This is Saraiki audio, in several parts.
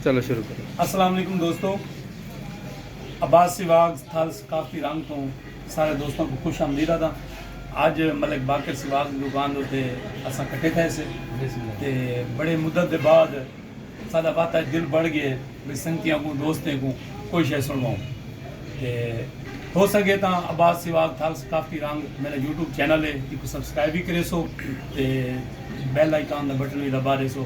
السلام علیکم دوستو عباس سواگ تھل ثقافتی رنگ توں سارے دوستوں کو خوش آمدید آتا آج ملک باقر سواگ دوکان دو تے اساں کٹے تھے سے تے بڑے مدد دے بعد سادہ وقت آج دل بڑھ گئے بھئی سنگتیاں کو دوستیں کو کوئی شے سنواؤں تے ہو سکے تاں عباس سواگ تھل ثقافتی رنگ میرا یوٹیوب چینل ہے ایک سبسکرائب بھی کرے سو تے بیل آئیکان دا بٹن بھی دبا دے سو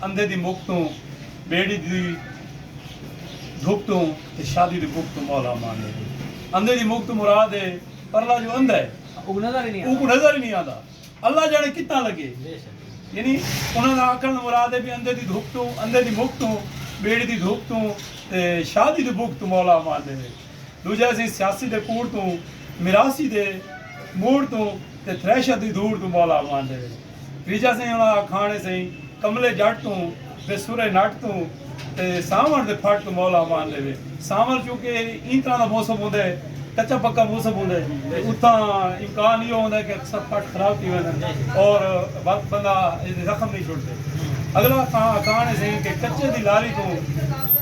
اندھے دی مک توں ٻیڑی دی دھک توں تے شادی دی بھک توں مولا امان ہے۔ اندھے دی مک توں مراد ہے پرلا جو اندھا ہے اوکوں نظر ہی نی آندا اللہ جانے کتھاں لگے یعنی انہاں دا آکھݨ دا مراد ہے بھئی اندھے دی دھک توں اندھے دی مک توں ٻیڑی دی دھک توں تے شادی دی بھک توں مولا امان ݙیوے۔ ݙوجھا اسی سیاسی دے کوڑ توں، میراثی دے موڑ توں تے تھریشر دی دھوڑ توں مولا اماندے ہن۔ تریجھا سئیں انہاں آکھاݨے سئیں کملے جٹ توں تے سرے نٹ توں تے سانوݨ دے پھٹ توں مولا اماندے وے۔ سانول چونکہ ایں طرح دا موسم ہوندے کچا پکا موسم ہوندے تے اتھاں امکان ایہو ہوندے کہ اکثر پھٹ خراب تھی ویندن اور وقت بندہ زخم نہیں چھوڑدے۔ اگلا آکھاݨے سئیں کہ کچے دی لاری توں۔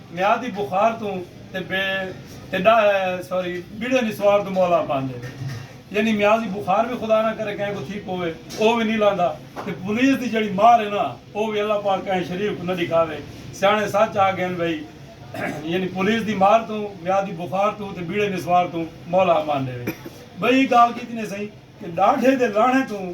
میعادی بخار توں تے بے تے ڈا سوری بڑے نسوار توں مولا پاندے نے یعنی میعازی بخار وی خدا نہ کرے کہیں کوں تھی پوے او وی نی لاندا تے پولیس دی جیڑھی مار ہے نا او وی اللہ پاک کہیں شریف کوں نہ ڈکھاوے سیاݨے سچ آ گھن بھئی یعنی پولیس دی مار توں میعادی بخار توں تے بڑے نسوار توں مولا امان ڈیوے بھئی اک گال کیتی نے سئیں کہ ڈاڈھے دے لاݨے توں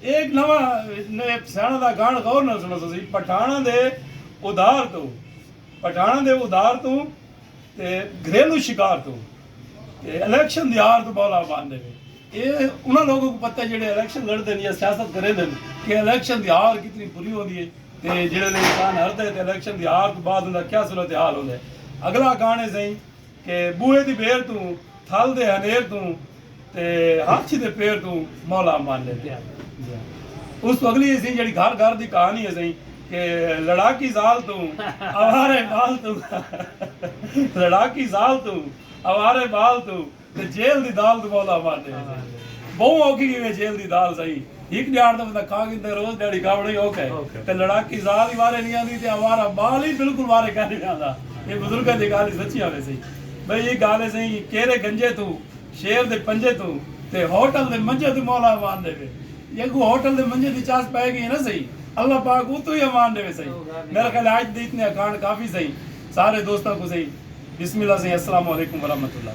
اے نواں سیاݨاں دا گاݨ غور نال سݨو تسی پٹھاݨاں دے ادھار توں پٹھاݨاں دے ادھار توں تے گھریلو شکار توں تے الیکشن دی ہار توں بولا بن دے وے اے انہاں لوکاں کوں پتہ جیڑھے الیکشن لڑدن یا سیاست کریندن کہ الیکشن دی ہار کتنی بری ہوندی اے تے جیڑھے لے انسان ہردا اے تے الیکشن دی ہار توں بعد اوندا کیا صورتحال ہوندا اے اگلا گاݨ اے سئیں کہ بوہے دی بھیر توں، تھل دے ہنیر توں تے ہاتھی دے پیر توں مولا امان لیتے ہیں۔ اس توں اگلی ہیسی جیڑھی گھر گھر دی کہانی ہیسی کہ لڑاکی زال توں، آوارے بال توں لڑاکی زال توں، آوارے بال توں تے جیل دی دال توں مولا امان لیتے ہیں۔ بہوں اوکھی کیویں جیل دی دال سہی۔ ہک ڄاڑ دا بندہ کاں گھندے روز ݙیہاڑی گاوݨ ای اوکھا ہے تے لڑاکی ذال ای وارے نی آندی تے آوارہ ٻال ای بالکل وارے کائنی نہ آندا اے بزرگاں دی ڳالھ ای سچی آوے سئیں بھئی اے ڳالھ اے سئیں کیرے گنجے توں شیر دے پنجے توں تے ہوٹل دے منجے توں مولا امان ݙیوے جے اڳوں ہوٹل دے منجے دی چاس پئے ڳئی اے نہ سئیں اللہ پاک اتوں ای امان ݙیوے سئیں میرا خیال اے اڄ دے اتنے اکھاݨ کافی سئیں سارے دوستاں کوں سئیں بسم اللہ سئیں السلام علیکم ورحمۃ اللہ۔